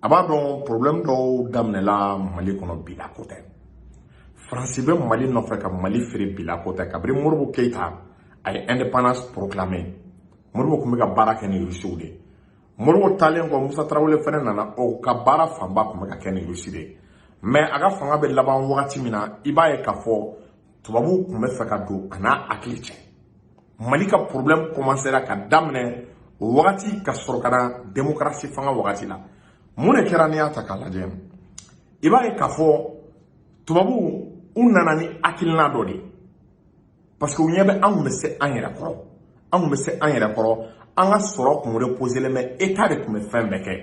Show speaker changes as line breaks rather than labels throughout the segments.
a b'a dɔn problème dɔw daminɛla mali kɔnɔ bi la ko tɛ faransi bɛ mali nɔfɛ ka mali feere bi la ko tɛ kabiri modibo keyita a ye indépendance proclamé modibo tun bɛ ka baara kɛ ni rusiw de modibo taalen kɔ musa tarawele fɛnɛ nana o ka baara fanba tun bɛ ka kɛ ni rusi de mais a ka fanga bɛ laban wagati min na i b'a ye k'a fɔ tubabuw tun bɛ fɛ ka don a n'a hakili cɛ mali ka problème commencera ka daminɛ o wagati ka sɔrɔ ka na démocratie fanga wagati la mun de kɛra n'i y'a ta k'a lajɛ i b'a ye k'a fɔ tubabuw u nana ni hakilina dɔ de parce que u ɲɛ bɛ an tun bɛ se an yɛrɛ kɔrɔ an tun bɛ se an yɛrɛ kɔrɔ an ka sɔrɔ tun reposelen bɛ état de tun bɛ fɛn bɛɛ kɛ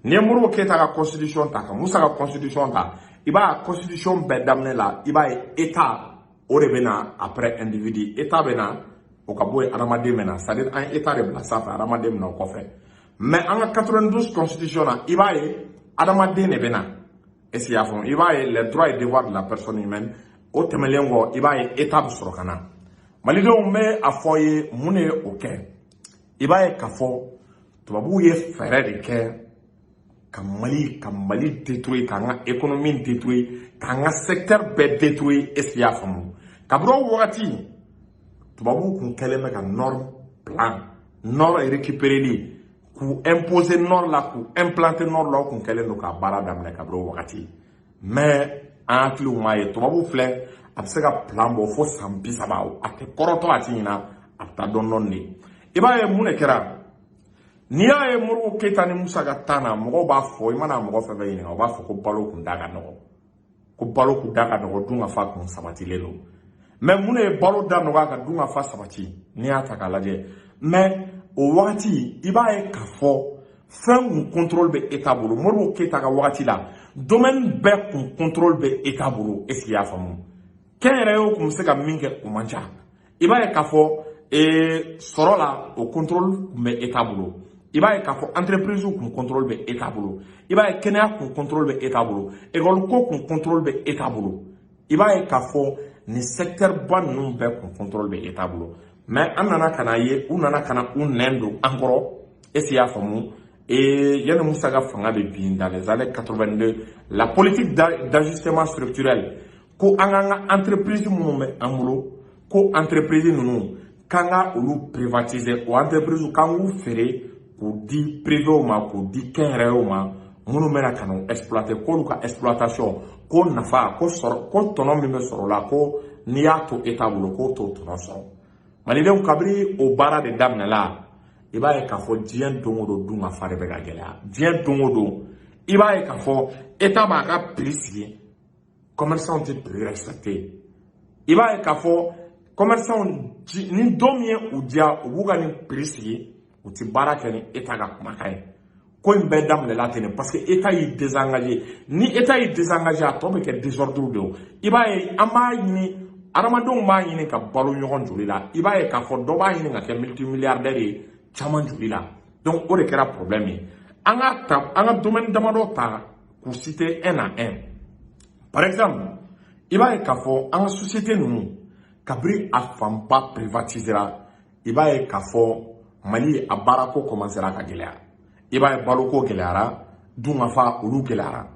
n'i ye modibo keyita ka constitution ta ka musa ka constitution ta i b'a ye constitution bɛɛ daminɛ la i b'a ye état o de bɛ na après individu état bɛ na o ka bɔ yen adamaden bɛ na c'est à dire an ye état de bila sanfɛ adamaden bɛ na o kɔfɛ mais an ka 92 constitution na i b'a ye adamaden de bɛ na est ce que i y'a faamu i b'a ye les droits et devoirs de la personne humaine o tɛmɛlen kɔ i b'a ye état bɛ sɔrɔ ka na malidenw bɛ a fɔ ye mun de ye o kɛ i b'a ye k'a fɔ tubabuw ye fɛɛrɛ de kɛ ka mali ka mali détruire k'an ka économie détruire k'an ka secteur bɛɛ détruire est-ce que i y'a faamu kabiri o wagati tubabuw kun kɛlen bɛ ka norme plan nord récupéreli k'u imposer nord la k'u implanter nord la u kun kɛlen don k'a baara daminɛ kabiri o wagati mais an hakiliw m'a ye tubabu filɛ a bɛ se ka plan bɔ fo san bi saba a tɛ kɔrɔtɔ a tɛ ɲina a bɛ taa dɔɔni dɔɔni de i b'a ye mun de kɛra n'i y'a ye modibo keyita ni musa ka temps na mɔgɔw b'a fɔ i mana mɔgɔ fɛn fɛn ɲininka u b'a fɔ ko balo kun da ka nɔgɔ ko balo kun da ka nɔgɔ dunkafa kun sabatilen don mais mun de ye balo da nɔgɔya ka dunkafa sabati n'i y'a ta k'a lajɛ mais o wagati i b'a ye k'a fɔ fɛn kun contrôle bɛ État bolo Modibo Keyita ka wagati la domaine bɛɛ kun contrôle bɛ État bolo est-ce que i y'a faamu kɛnyɛrɛyew kun bɛ se ka min kɛ o man ca i b'a ye k'a fɔ ee sɔrɔ la o contrôle kun bɛ État bolo i b'a ye k'a fɔ entreprise kun contrôle bɛ État bolo i b'a ye kɛnɛya kun contrôle bɛ État bolo école ko kun contrôle bɛ État bolo i b'a ye k'a fɔ nin secteur ba ninnu bɛɛ kun contrôle bɛ État bolo mais an nana ka n'a ye u nana ka na u nɛn don an kɔrɔ est-ce que i y'a faamu yanni Moussa ka fanga bɛ bin dans les années 82 la politique d'ajustement structurel ko an k'an ka entreprise minnu bɛ an bolo ko entreprise ninnu k'an ka olu privatiser o entreprise k'an k'u feere k'u di privew ma k'u di kɛnyɛrɛyew ma minnu bɛna ka n'u exploiter k'olu ka exploitation ko nafa ko tɔnɔ min bɛ sɔrɔ o la ko n'i y'a to État bolo k'o t'o tɔnɔ sɔrɔ malidenw kabiri o baara de daminɛla i b'a ye k'a fɔ diɲɛ don o don dunkafa de bɛ ka gɛlɛya diɲɛ don o don i b'a ye k'a fɔ eta b'a ka piri sigi kɔmɛrisanw tɛ piri rɛsipɛkite i b'a ye k'a fɔ kɔmɛrisanw ni don min ye u diya u b'u ka nin piri sigi u tɛ baara kɛ ni eta ka kumakan ye ko in bɛɛ daminɛla ten de parce que eta y'i désengagé ni eta y'i désengagé a tɔ bɛ kɛ désordre de ye i b'a ye an b'a ɲini hadamadenw b'a ɲini ka balo ɲɔgɔn joli la i b'a ye k'a fɔ dɔ b'a ɲini ka kɛ multimilliardaire ye caman joli la donc o de kɛra problème ye an ka ta an ka domaine damadɔ ta k'u citer un à un par exemple i b'a ye k'a fɔ an ka société ninnu kabiri a fanba privatisera i b'a ye k'a fɔ mali a baarako kɔmansera ka gɛlɛya i b'a ye baloko gɛlɛyara dunkafa olu gɛlɛyara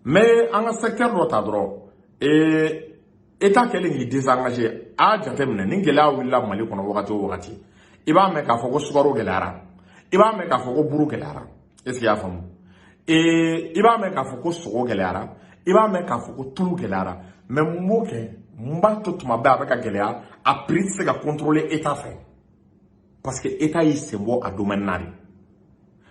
mɛ an ka sɛkitɛri dɔ ta dɔrɔn ee eta kɛlen k'i desangaje a jateminɛ ni gɛlɛya wulila mali kɔnɔ wagati o wagati i b'a mɛn k'a fɔ ko sukaro gɛlɛyara i b'a mɛn k'a fɔ ko buru gɛlɛyara est ce que i y'a faamu ee i b'a mɛn k'a fɔ ko sogo gɛlɛyara i b'a mɛn k'a fɔ ko tulu gɛlɛyara mɛ mun b'o kɛ mun b'a to tuma bɛɛ a bɛ ka gɛlɛya a prix tɛ se ka contrôler état fɛ parce que état y'i sen bɔ a domaine na de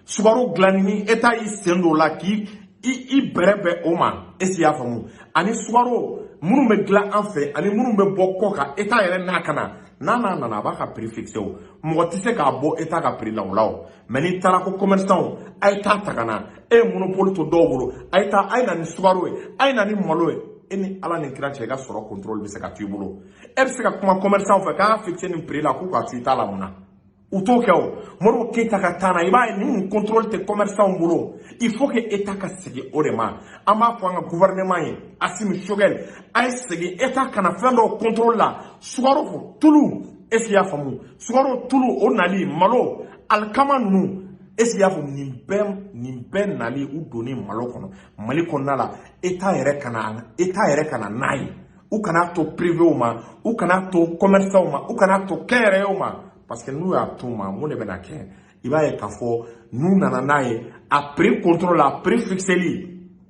sukaro dilanni ni état y'i sen don o la k'i i i bɛrɛ bɛn o ma est ce que i y'a faamu ani sukaro minnu bɛ dilan an fɛ ani minnu bɛ bɔ kɔ kan état yɛrɛ n'a ka na n'a n'a nana a b'a ka prix fixé o mɔgɔ tɛ se k'a bɔ état ka prix la o la o mɛ n'i taara ko commerçant a ye taa ta ka na e ye monopole to dɔw bolo a ye na ni sukaro ye a ye na ni malo ye e ni ala ni kira cɛ i ka sɔrɔ contrôle bɛ se ka to i bolo e bɛ se ka kuma commerçant fɛ k'an ka fixe nin prix la k'u k'a to i ta la mun na u t'o kɛ o modibo keyita ka tan na i b'a ye nin contrôle tɛ commerçant bolo il faut que état ka segin o de ma an b'a fɔ an ka gouvernement ye asimi sogɛl a ye segin état ka na fɛn dɔw contrôle la sukaro tulu est-ce que i y'a faamu sukaro tulu o nali malo alikama ninnu est-ce que i y'a faamu nin bɛɛ nin bɛɛ nali u donni malo kɔnɔ mali kɔnɔna la eta yɛrɛ ka na eta yɛrɛ ka na n'a ye u kana to privew ma u kana to commerçants ma u kana to kɛnyɛrɛyew ma parce que n'u y'a to u ma mun de bɛna kɛ i b'a ye k'a fɔ n'u nana n'a ye a prix contrôle a prix fixeli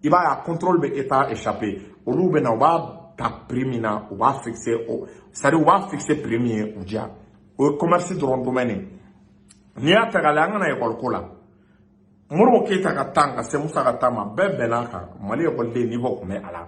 i b'a ye a contrôle bɛ état échappé olu bɛ na u b'a ta prix min na u b'a fixé o c'est à dire u b'a fixé prix min ye u diya o ye commerce dɔrɔn domaine ye n'i y'a ta k'a lajɛ an ka na ekɔli ko la modibo keyita ka tan ka se musa ka tan ma bɛɛ bɛnna a kan mali ekɔliden niveau tun bɛ a la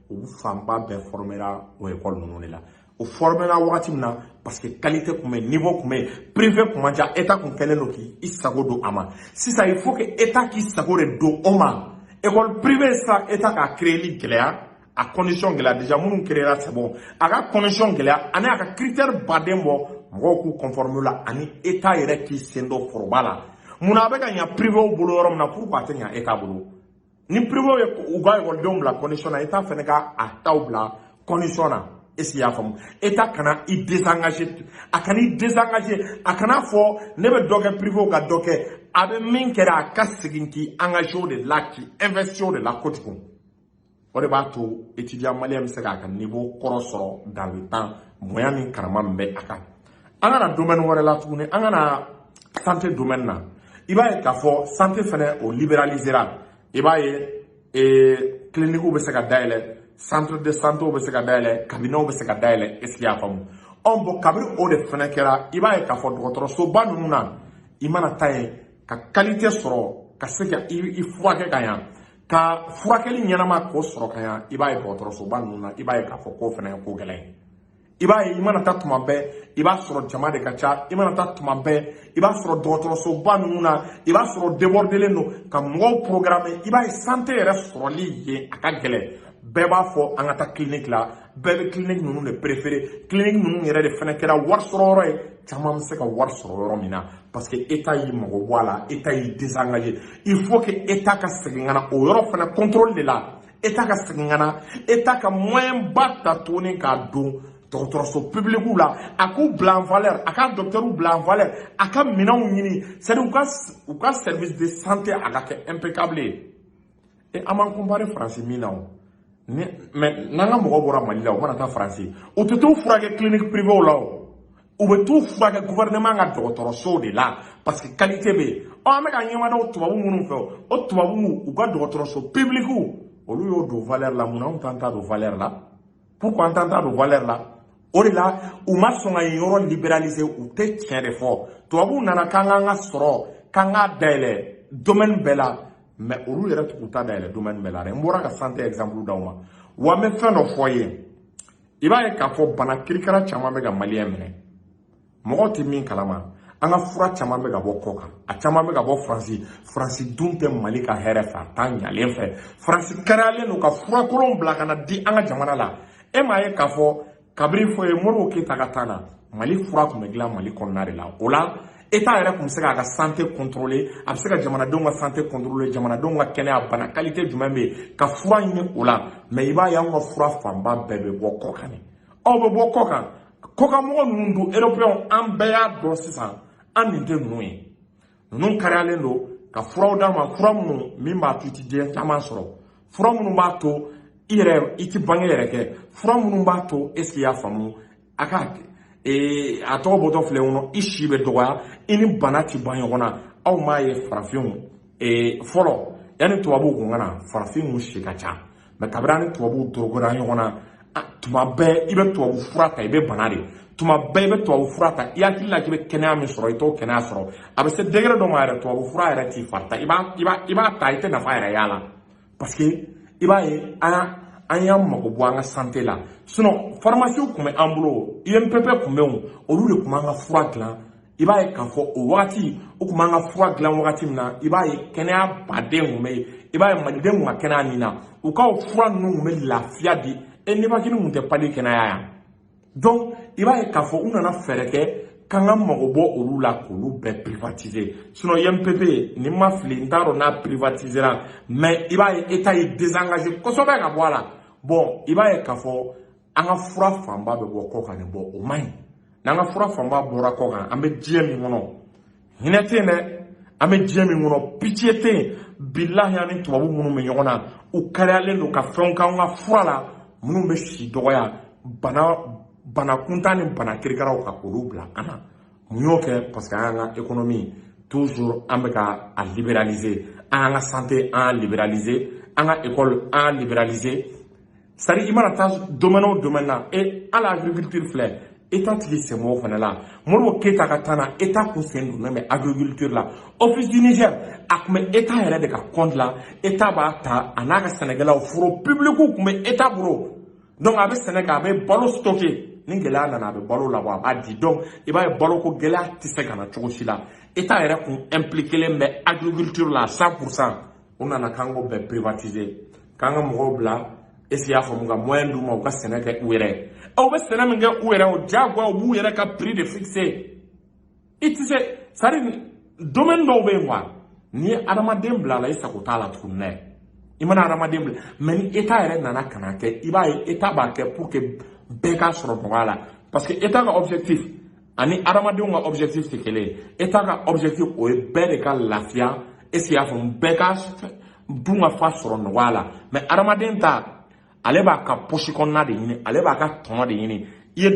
olu fanba bɛɛ fɔrɔmera o ekɔli ninnu de la o fɔrɔmera wagati min na parce que kalite tun bɛ yen nivo tun bɛ yen pirive tun man ca eta tun kɛlen don k'i sago don a ma sisan il faut que eta k'i sago de don o ma ekɔli pirive sisan eta k'a kireli gɛlɛya a condition gɛlɛya déjà minnu kirela c'est bon a ka condition gɛlɛya ani a ka critère ba de bɔ mɔgɔw k'u conformer a la ani eta yɛrɛ k'i sen don foroba la mun na a bɛ ka ɲa pirivew bolo yɔrɔ min na pourquoi a tɛ ɲa eta bolo ni privew ye u ka ekɔlidenw bila condition na eta fɛnɛ ka a taw bila condition na est ce que y'a faamu eta kana i désengagé a kana i désengagé a kana fɔ ne bɛ dɔ kɛ privew ka dɔ kɛ a bɛ min kɛra a ka segin k'i engagé o de la k'i investi o de la kojugu o de b'a to étudiant malien bɛ se k'a ka niveau kɔrɔ sɔrɔ dans le temps bonya ni karama min bɛ a kan an ka na domɛni wɛrɛ la tuguni an ka na sante domɛni na i b'a ye k'a fɔ sante fɛnɛ o liberalisera i b'a ye ee kilinikiw bɛ se ka dayɛlɛ centre de santew bɛ se ka dayɛlɛ kabinɛw bɛ se ka dayɛlɛ est ce que y'a faamu ɔ bon kabiri o de fɛnɛ kɛra i b'a ye k'a fɔ dɔgɔtɔrɔsoba ninnu na i mana taa yen ka kalite sɔrɔ ka se ka i furakɛ ka ɲa ka furakɛli ɲɛnama k'o sɔrɔ ka ɲa i b'a ye dɔgɔtɔrɔsoba ninnu na i b'a ye k'a fɔ k'o fɛnɛ ye ko gɛlɛn ye i b'a ye i mana taa tuma bɛɛ i b'a sɔrɔ jama de ka ca i mana taa tuma bɛɛ i b'a sɔrɔ dɔgɔtɔrɔsoba ninnu na i b'a sɔrɔ debɔrdelen don ka mɔgɔw programmé i b'a ye sante yɛrɛ sɔrɔli yen a ka gɛlɛn bɛɛ b'a fɔ an ka taa clinique la bɛɛ bɛ clinique ninnu de préféré clinique ninnu yɛrɛ de fɛnɛ kɛra wari sɔrɔ yɔrɔ ye caman bɛ se ka wari sɔrɔ yɔrɔ min na parce que état y'i mago bɔ a la état y'i désengagé il faut que état ka segin ka na o yɔrɔ fɛnɛ contrôlé de la état ka segin ka na état ka moyen ba ta tuguni k'a don dɔgɔtɔrɔso pibilikiw la a k'u bila en valeur a ka dɔkitɛriw bila en valeur a ka minɛnw ɲini c'est à dire u ka u ka service de santé a ka kɛ impeccable ye e an b'an compare faransi min na o mais n'an ka mɔgɔw bɔra mali la u mana taa faransi u tɛ t'u furakɛ clinique privéw la o u bɛ t'u furakɛ gouvernement ka dɔgɔtɔrɔsow de la parce que qualité bɛ yen ɔ an bɛ ka ɲɛmada tubabu minnu fɛ o tubabu u ka dɔgɔtɔrɔso publikiw olu y'o don valeur la mun na anw t'an ta don valeur la pourquoi an t'an ta don valeur la o de la u ma sɔn ka yen yɔrɔ libéraliser u tɛ tiɲɛ de fɔ tubabuw nana k'an k'an ka sɔrɔ k'an k'a dayɛlɛ domaine bɛɛ la mais olu yɛrɛ tɛ k'u ta dayɛlɛ domaine bɛɛ la dɛ n bɔra ka santé exemple d'aw ma wa n bɛ fɛn dɔ fɔ i ye i b'a ye k'a fɔ bana kirikara caman bɛ ka maliyɛn minɛ mɔgɔw tɛ min kalama an ka fura caman bɛ ka bɔ kɔ kan a caman bɛ ka bɔ faransi faransi dun tɛ mali ka hɛrɛ fɛ a t'an ɲalen fɛ faransi kariyalen don ka fura kolonw bila ka na di an ka jamana la e m'a ye k'a fɔ kabiri fɔ ye modibo keyita ka temps na mali fura tun bɛ dilan mali kɔnɔna de la o la Eta yɛrɛ tun bɛ se k'a ka sante kɔntɔrɔle a bɛ se ka jamanadenw ka sante kɔntɔrɔle jamanadenw ka kɛnɛya bana kalite jumɛn bɛ yen ka fura ɲini o la mɛ i b'a y'an ka fura fanba bɛɛ bɛ bɔ kɔkan aw bɛ bɔ kɔkan kɔkanmɔgɔ ninnu don eropeyɛnw an bɛɛ y'a dɔn sisan an nin tɛ ninnu ye ninnu kariyalen don ka furaw d'an ma fura minnu min b'a to i tɛ diɲɛ caman sɔrɔ fura minnu b'a to i yɛrɛ i tɛ bange yɛrɛ kɛ fura minnu b'a to ɛsike i y'a faamu a ka ee a tɔgɔ bɔtɔ filɛ kɔnɔ i si bɛ dɔgɔya i ni bana ti bɔ ɲɔgɔn na aw m'a ye farafinw ee fɔlɔ yanni tubabuw kun ka na farafinw si ka ca mɛ kabiri an ni tubabuw dorogora ɲɔgɔn na tuma bɛɛ i bɛ tubabu fura ta i bɛ bana de tuma bɛɛ i bɛ tubabu fura ta i hakili la k'i bɛ kɛnɛya min sɔrɔ i t'o kɛnɛya sɔrɔ a bɛ se degere dɔ ma yɛrɛ tubabu fura yɛrɛ t'i fari ta i b'a ta i tɛ nafa yɛrɛ y'a la parce que i b'a ye an y'a an y'an mago bɔ an ka sante la sinɔn farimasiw tun bɛ an bolo umpp tun bɛ yen olu de tun b'an ka fura dilan i b'a ye k'a fɔ o wagati u tun b'an ka fura dilan wagati min na i b'a ye kɛnɛyaba de tun bɛ yen i b'a ye maliden tun ka kɛnɛya nin na u ka o fura ninnu tun bɛ lafiya di e nibakini tun tɛ pali kɛnɛya yan donc i b'a ye k'a fɔ u nana fɛɛrɛ kɛ k'an k'an mago bɔ olu la k'olu bɛɛ privatiser sinon UMPP ni n ma fili n t'a dɔn n'a privatisera mais i b'a ye État y'i désengager kosɛbɛ ka bɔ a la bon i b'a ye k'a fɔ an ka fura fanba bɛ bɔ kɔ kan de bon o man ɲi n'an ka fura fanba bɔra kɔ kan an bɛ diɲɛ min kɔnɔ hinɛ tɛ yen dɛ an bɛ diɲɛ min kɔnɔ pitiye tɛ yen bilahi an ni tubabu minnu bɛ ɲɔgɔn na u kariyalen don ka fɛnw k'an ka fura la minnu bɛ si dɔgɔya bana kuntan ni bana kirikaraw ka olu bila an na mun y'o kɛ parce que an y'an ka ekonomi toujours an bɛ ka a liberaliser an y'an ka sante an y'a liberaliser an ka ekɔli an y'a liberaliser c'est à dire i mana taa domaine o domaine na e hali agriculture filɛ eta tigi sen b'o fana la modibo keyita ka tan na eta kun sen donnen bɛ agriculture la office du niger a tun bɛ eta yɛrɛ de ka compte la eta b'a ta a n'a ka sɛnɛkɛlaw foro publikiw tun bɛ eta bolo donc a bɛ sɛnɛ kɛ a bɛ balo stocké ni gɛlɛya nana a bɛ balo labɔ a b'a di donc i b'a ye baloko gɛlɛya tɛ se ka na cogo si la eta yɛrɛ kun impliqué len bɛ agriculture la 100 pourcent u nana k'an k'o bɛɛ privatiser k'an ka mɔgɔw bila ɛsike i y'a faamu ka moyen d'u ma u ka sɛnɛ kɛ u yɛrɛw bɛ sɛnɛ min kɛ u yɛrɛ o diyagoya u b'u yɛrɛ ka prix de fixer i tɛ se c'est à dire domaine dɔw bɛ yen quoi n'i ye adamaden bila a la i sago t'a la tuguni dɛ i mana adamaden bila mɛ ni eta yɛrɛ nana ka n'a kɛ i b'a ye eta b'a kɛ pour que bɛɛ k'a sɔrɔ nɔgɔya la parce que eta ka objectif ani adamadenw ka objectif tɛ kelen ye etat ka objectif o ye bɛɛ de ka lafiya est ce que y'a faamu bɛɛ ka dun ka fa sɔrɔ nɔgɔya la mais adamaden ta ale b'a ka posi kɔnɔna de ɲini ale b'a ka tɔnɔ de ɲini i ye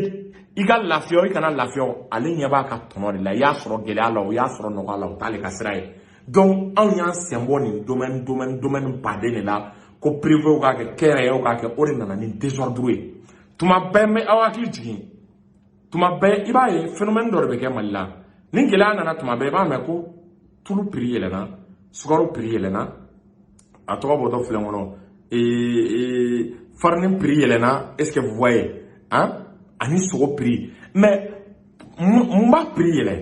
i ka lafiya o i kana lafiya o ale ɲɛ b'a ka tɔnɔ de la i y'a sɔrɔ gɛlɛya la o y'a sɔrɔ nɔgɔya la o t'ale ka sira ye donc anw y'an sen bɔ nin domaine domaine domaine baden de la ko privew k'a kɛ kɛnyɛrɛyew k'a kɛ o de nana ni desordre ye tuma bɛɛ n bɛ aw hakili jigin tuma bɛɛ i b'a ye phénomène dɔ de bɛ kɛ mali la ni gɛlɛya nana tuma bɛɛ i b'a mɛn ko tulu prix yɛlɛna sukaro prix yɛlɛna a tɔgɔ bɔtɔ filɛ n kɔnɔ farini prix yɛlɛna est ce que vous voyez hein? ani sogo prix mais mun b'a prix yɛlɛ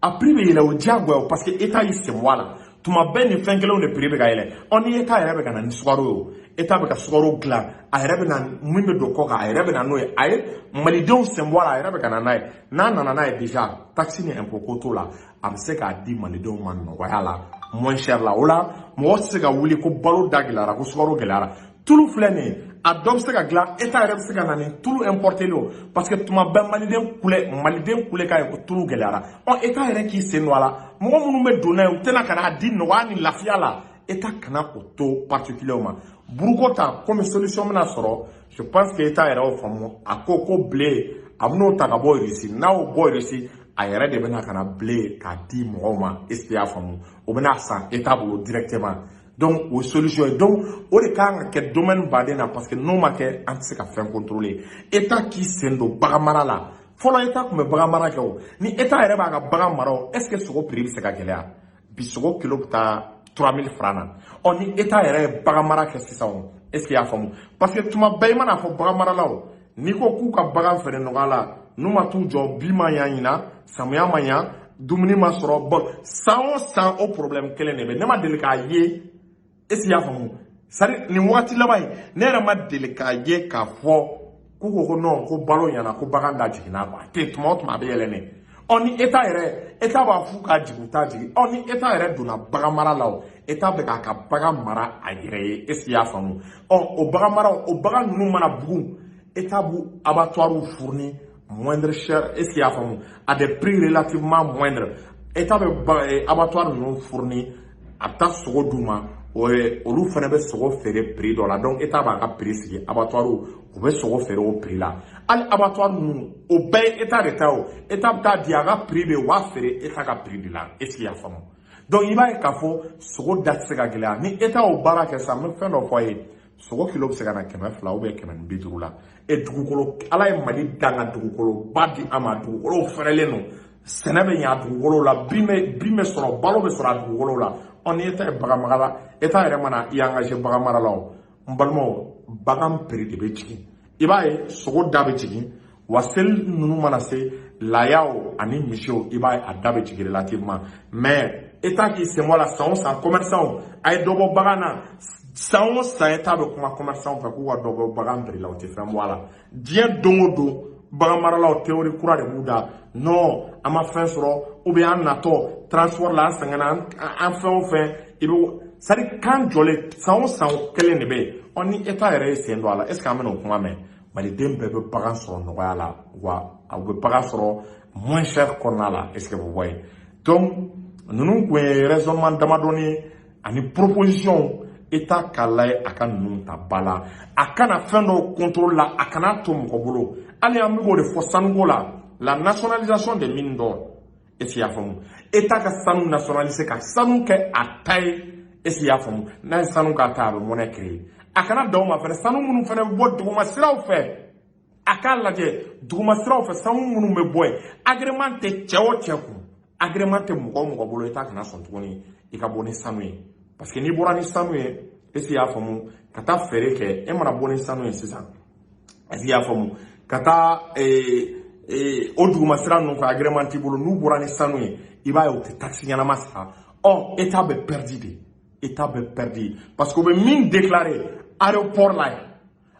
a prix bɛ yɛlɛ o diyagoya parce que état y'i sen bɔ a la tuma bɛɛ nin fɛn kelenw de prix bɛ ka yɛlɛ ɔ ni état yɛrɛ bɛ ka na ni sukaro ye o état bɛ ka sukaro dilan a yɛrɛ bɛ na min bɛ don kɔ kan a yɛrɛ bɛ na n'o ye a ye malidenw sen bɔ a la a yɛrɛ bɛ ka na n'a ye n'a nana n'a ye déjà taxe ni impôt ko t'o la a bɛ se k'a di malidenw ma nɔgɔya la moins cher la o la mɔgɔ tɛ se ka wuli ko balo da gɛlɛyara ko sukaro gɛlɛyara tulu filɛ nin ye a dɔ bɛ se ka dilan eta yɛrɛ bɛ se ka na ni tulu importelen o parce que tuma bɛɛ maliden kule maliden kule k'a ye ko tulu gɛlɛyara ɔ eta yɛrɛ k'i sen don a la mɔgɔ minnu bɛ don n'a ye u tɛna ka n'a di nɔgɔya ni lafiya la eta kana o to particulier ma buruko ta komi solution bɛna sɔrɔ je pense que eta yɛrɛ y'o faamu a ko ko blé a bɛn'o ta ka bɔ irisi n'a y'o bɔ irisi a yɛrɛ de bɛna ka na blé k'a di mɔgɔw ma est ce que y'a faamu o bɛna san eta bolo directement donc o ye solution ye donc o de kan ka kɛ domaine baden na parce que n'o ma kɛ an tɛ se ka fɛn contrôler état k'i sen don bagan mara la fɔlɔ état tun bɛ bagan mara kɛ o ni état yɛrɛ b'a ka bagan mara o est ce que sogo prix bɛ se ka gɛlɛya bi sogo kilo bɛ taa 3000 francs na ɔ ni état yɛrɛ ye bagan mara kɛ sisan o est ce que i y'a faamu parce que tuma bɛɛ i man'a fɔ bagan maralaw n'i ko k'u ka bagan feere nɔgɔya la n'u ma t'u jɔ bin ma ɲa ɲinan samiya ma ɲa dumuni ma sɔrɔ bon san o san o problɛmu kelen de bɛ ne ma deli k'a ye est ce que y'a faamu c'est à dire nin wagati laban in ne yɛrɛ ma deli k'a ye k'a fɔ k'u ko ko non ko balo ɲana ko bagan da jiginna quoi a tɛ tuma o tuma a bɛ yɛlɛ ne ɔ ni eta yɛrɛ eta b'a f'u k'a jigin u t'a jigin ɔ ni eta yɛrɛ donna bagan mara la o eta bɛ k'a ka bagan mara a yɛrɛ ye est ce que i y'a faamu ɔ o bagan mara o bagan ninnu mana bugun eta b'u abattoirs fourni moindre cher est ce que i y'a faamu à des prix relativement moindres eta bɛ abattoirs ninnu fourni a bɛ taa sogo d'u ma olu fana bɛ sogo feere prix dɔ la donc eta b'a ka prix sigi abattoirs u bɛ sogo feere o prix la hali abattoirs ninnu o bɛɛ ye eta de ta o eta bɛ taa di a ka prix bɛ u b'a feere eta ka prix de la est ce que y'a faamu donc i b'a ye k'a fɔ sogo da tɛ se ka gɛlɛya ni eta y'o baara kɛ sisan n bɛ fɛn dɔ fɔ a ye sogo kilo bɛ se ka na kɛmɛ fila ou bien kɛmɛ ni bi duuru la e dugukolo ala ye mali dan ka dugukoloba di a ma dugukolo fɛrɛlen don sɛnɛ bɛ ɲɛ a dugukolo la bin bɛ sɔrɔ balo bɛ sɔrɔ a dugukolo la ɔ ni état ye bagan mara la état yɛrɛ mana i engagé bagan mara la o n balimaw bagan prix de bɛ jigin i b'a ye sogo da bɛ jigin wa seli ninnu mana se layaw ani misiw i b'a ye a da bɛ jigin relativement mais état k'i sen bɔ a la san o san commerçantw a ye dɔ bɔ bagan na san o san état bɛ kuma commerçantw fɛ k'u ka dɔ bɔ bagan prix la u tɛ fɛn bɔ a la diɲɛ don o don bagan maralaw théorie kura de b'u da non an ma fɛn sɔrɔ ou bien an natɔ transport la an sɛgɛnna an fɛn o fɛn i bɛ c'est à dire kan jɔlen san o san kelen de bɛ yen ɔ ni état yɛrɛ ye sen don a la est ce que an bɛna o kuma mɛn maliden bɛɛ bɛ bagan sɔrɔ nɔgɔya la wa a bɛ bagan sɔrɔ moins cher kɔnɔna la est ce que o bɔ yen donc ninnu kun ye raisonnement damadɔni ye ani proposition état k'a layɛ a ka ninnu ta ba la a kana fɛn dɔw contrôle la a kana to mɔgɔ bolo hali an bɛ k'o de fɔ sanuko la la nationalisation des mines d'or est ce que i y'a faamu état ka sanu nationaliser ka sanu kɛ a ta ye est ce que i y'a faamu n'a ye sanu k'a ta a bɛ monnaie créer a kana dan o ma fɛnɛ sanu minnu fɛnɛ bɛ bɔ duguma siraw fɛ a k'a lajɛ duguma siraw fɛ sanu minnu bɛ bɔ yen agrément tɛ cɛ o cɛ kun agrément tɛ mɔgɔ o mɔgɔ bolo état kana sɔn tuguni i ka bɔ ni sanu ye parce que n'i bɔra ni sanu ye est ce que i y'a faamu ka taa feere kɛ e mana bɔ ni sanu ye sisan est ce que i y'a faamu ka taa o duguma sira ninnu fɛ agrément t'i bolo n'u bɔra ni sanu ye i b'a ye u tɛ taxe ɲɛnama sara ɔ état bɛ pɛridi de état bɛ pɛridi parce que u bɛ min déclaré aéroport la yan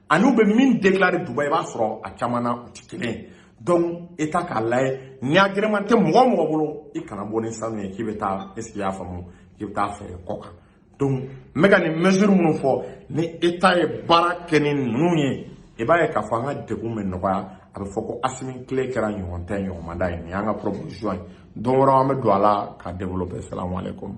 ani u bɛ min déclaré dubayi i b'a sɔrɔ a caman na u tɛ kelen ye donc état k'a layɛ ni agrément tɛ mɔgɔ o mɔgɔ bolo i kana bɔ ni sanu ye k'i bɛ taa est ce que i y'a faamu k'i bɛ taa feere kɔ kan donc n bɛ ka nin mesure minnu fɔ ni état ye baara kɛ ni ninnu ye i b'a ye k'a fɔ an ka degun bɛ nɔgɔya a bɛ fɔ ko asimi kile kɛra ɲɔgɔn tɛ ɲɔgɔn ma da ye nin y'an ka proposition ye don wɛrɛ an bɛ don a la k'a développer salamu aleykum